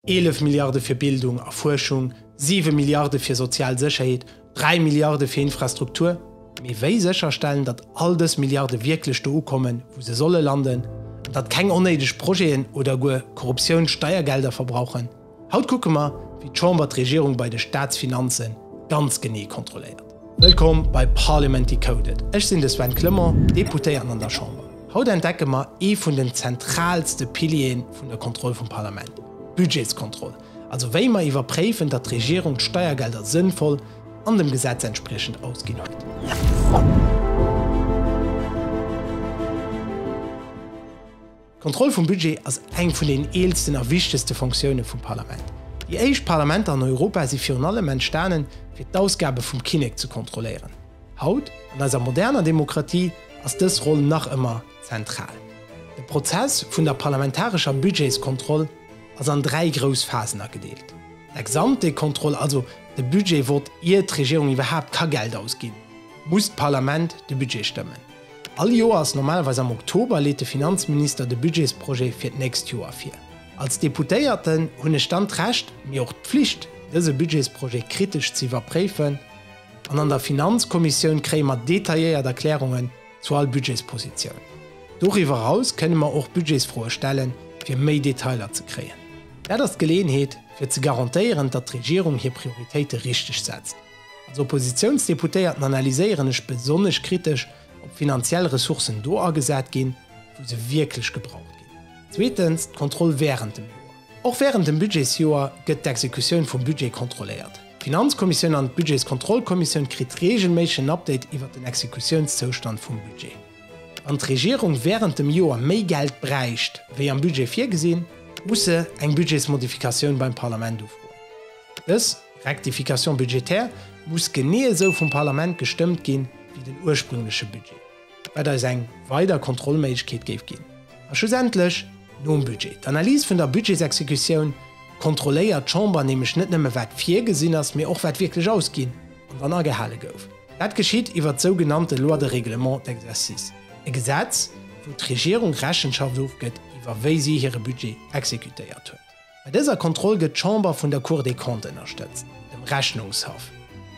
11 Milliarde fir Bildung a Fuerschung, 7 Milliarde fir sozial Sécherheet, 3 Milliarde fir Infrastruktur. Mee wéi sécherstellen, datt all dës Milliarde wierklech do ukommen, wou se solle landen, an datt keng onnéideg Projeten oder guer Korruptioun Steiergelder verbrauchen? Haut kucke mer, wéi d'Chamber d'Regierung bei de Staatsfinanze ganz genee kontrolléiert. Wëllkomm bei Parliament Decoded. Ech sinn de Sven Clement, Deputéierten an der Chamber. Haut entdecke mer ee vun den zentraalste Piliere vun der Kontroll vum Parlament, d'Budgetskontroll, also wéi mer iwwerpréifen, datt d'Regierung d'Steiergelder sënnvoll an dem Gesetz entspriechend ausginn huet. D'Kontroll vum Budget ass eng vun den eelsten a wichtegste Fonctioune vum Parlament. Déi éischt Parlamenter an Europa si virun allem entstanen, fir d'Ausgabe vum Kinnek ze kontrolléieren. Haut, an eiser moderner Demokratie, ass dës Roll nach ëmmer zentral. De Prozess vun der parlamentarescher Budgetskontroll ass an dräi grouss Phasen agedeelt, d'Ex-ante-Kontroll, also de Budget-Vott, ier d'Regierung iwwerhaapt ka Geld ausginn, muss d'Parlament de Budget stëmmen. All Joers, normalerweis am Oktober, leet de Finanzminister de Budgetsprojet fir d'nächst Joer vir. Als Deputéierten hunn ech dann d'Recht, mee och d'Pflicht, dëse Budgetsprojet kritesch ze iwwerpréifen an an der Finanzkommissioun kréie mer detailléiert Erklärungen zu all Budgetspositioun. Doriwwer eraus kënne mer och Budgetsfroe stellen, fir méi Detailer ze kréien. Dat ass d'Geleeënheet, fir ze garantéieren, datt d'Regierung hir Prioritéite richteg setzt. Als Oppositiounsdeputéierten analyséieren ech besonnesch kritesch, ob finanziell Ressourcen do agesat ginn, wou se wierklech gebraucht ginn. Zweetens d'Kontroll wärend dem Joer. Och wärend dem Budgetsjoer gëtt d'Exekutioun vum Budget kontrolléiert. D'Finanzkommissioun an d'Budgetskontrollkommissioun kritt reegelméisseg en Update iwwert den Exekutiounszoustand vum Budget. Wann d'Regierung wärend dem Joer méi Geld bräicht, wéi am Budget virgesinn, muss se eng Budgetsmodifikatioun beim Parlament ufroen. Dës Rectification budgétaire muss genee esou vum Parlament gestëmmt ginn, wéi den ursprüngleche Budget, wat eis eng weider Kontrollméiglechkeet géif ginn. A schlussendlech, nom Budget, d'Analyse vun der Budgetsexekutioun, kontrolléiert d'Chamber nämlech net nëmme wat virgesinn ass, mee och wat wierklech ausginn an dann agehale gouf. Dat geschitt iwwert d'sougenannte Loi de règlement d'exercice, e Gesetz, wou d'Regierung Rechenschaft ofgëtt iwwer wéi si hire Budget exekutéiert huet. Bei dëser Kontroll gëtt d'Chamber vun der Cour des Comptes ënnerstëtzt, dem Rechnungshaff.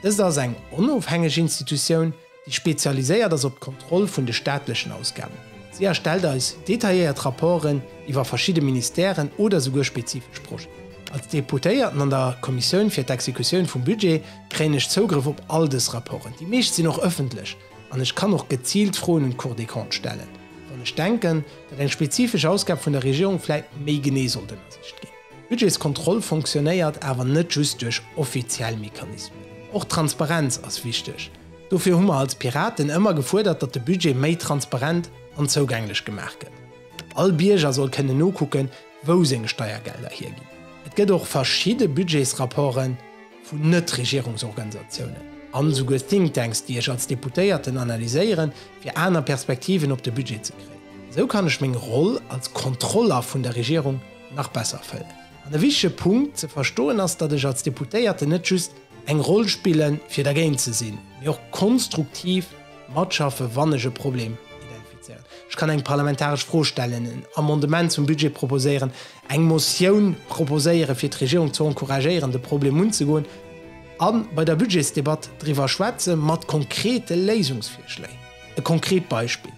Dëst ass eng onofhängeg Institutioun, déi spezialiséiert ass op d'Kontroll vun de staatlechen Ausgaben. Si erstellt eis detailléiert Rapporten iwwer verschidde Ministèren oder souguer spezifesch Projeten. Als Deputéierten an der Kommissioun fir d'Exekutioun vum Budget kréien ech Zougrëff op all dës Rapporten. Déi meescht sinn och ëffentlech. An ech kann och geziilt Froen un d'Cour des Comptes stellen, wann ech denken, datt eng spezifesch Ausgab vun der Regierung vläit méi genee sollt ënnersicht ginn. D'Budgetskontroll fonctionnéiert awer net just duerch offiziell Mechanismen. Och d'Transparenz ass wichteg. Dofir hu mer als Piraten ëmmer gefuerdert, datt de Budget méi transparent an zougänglech gemaach gëtt. All Bierger soll kënnen nokucken, wou seng Steiergelder hierginn. Et gëtt och verschidde Budgetsrapporten, vun Net-Regierungsorganisatiounen an esouguer Think Tanks, déi ech als Deputéierten analyséieren, fir aner Perspektiven op de Budget ze kréien. Esou kann ech meng Roll als Kontroller vun der Regierung nach besser fëllen. An e wichtege Punkt ze verstoen ass, datt ech als Deputéierten net just eng Roll spillen, fir dergéint ze sinn, mee och konstruktiv, Matschaffen, wann ech e Problem identifizéieren. Ech kann eng parlamentaresch Fro stellen, en Amendement zum Budget proposéieren, eng Motioun proposéieren, fir d'Regierung ze encouragéieren, de Problem unzegoen a bei der Budgetsdebatt driwwer schwätze mat konkrete Léisungsvirschléi. E konkret Beispill,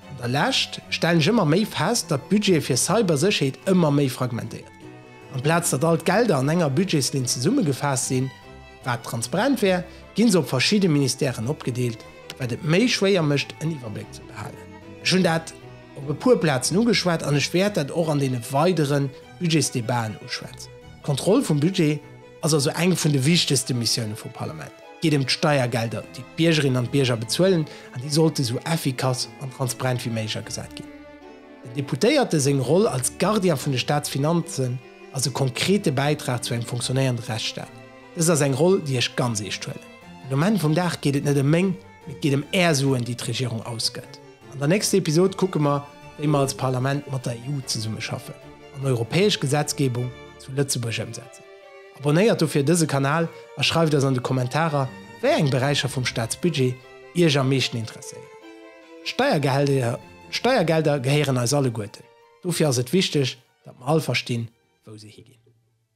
An der Lescht stellen ech ëmmer méi fest, datt d'Budgete fir Cybersécherheet ëmmer méi fragmentéiert ginn. Amplaz datt all d'Gelder an enger Budgetslinn zesummegefaasst sinn, Wat transparent wär, ginn se op verschidde Ministèren opgedeelt, wat et méi schwéier mécht en Iwwerbléck ze behalen. Ech hunn dat op e puer Plazen ugeschwat an ech wäert dat och an deene weidere Budgetsdebaten uschwätzen. D'Kontroll vum Budget ass also eng vun de wichtegste Missioune vum Parlament. Et geet ëm d'Steiergelder, déi d'Biergerinnen an d'Bierger bezuelen an déi sollte sou effikass an transparent wéi méiglech agesat ginn. Den Deputéierte seng Roll als Gardien vun de Staatsfinanzen, ass e konkrete Bäitrag zu engem funktionéierende Rechtsstaat. Dëst ass eng Roll, déi ech ganz eescht huelen. Mee um Enn vum Dag geet et net ëm meng, mee et geet ëm Är Suen, déi d'Regierung ausgëtt. An der nächster Episod kucke mer, wéi mer als Parlament mat der EU zesummeschaffen an europäesch Gesetzgebung zu Lëtzebuerg ëmsetzen. Abonnéiert dofir dëse Kanal a schreift eis an de Kommentarer, wéi eng Beräicher vum Staatsbudget Iech am meeschten interesséieren. D'Steiergelder gehéieren eis alleguerten. Dofir ass et wichteg, datt mer all verstinn, wou se higinn.